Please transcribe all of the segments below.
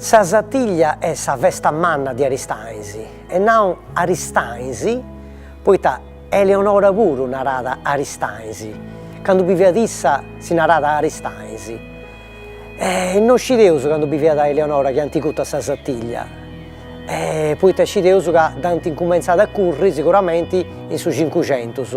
Sa satiglia est sa festa manna de Aristanis e nau Aristanis poita Eleonora puru narat Aristanis, candu biviat issa si narat Aristanis, no scideus candu biviat Eleonora chi ant curtu sa satiglia, poita scideus ca dd'ant incumentzada a curri siguramenti in su cincucentus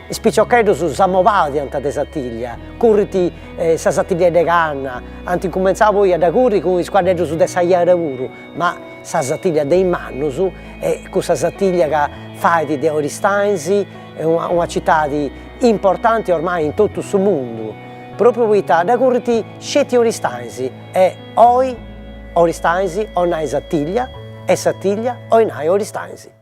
Is piciocheddus si innamorant de satiglia, currint sa satiglia de canna, ant incumentzau poi a dda curri cun is cuaddeddus de sa jara puru, ma sa satiglia de is mannus est cussa satiglia ca fait de Oristanis una citadi importanti ormai in totu su mundu, propriu poita dda currint sceti Oristanis e oi Oristanis oi nai satiglia e satiglia oi nai Oristanis.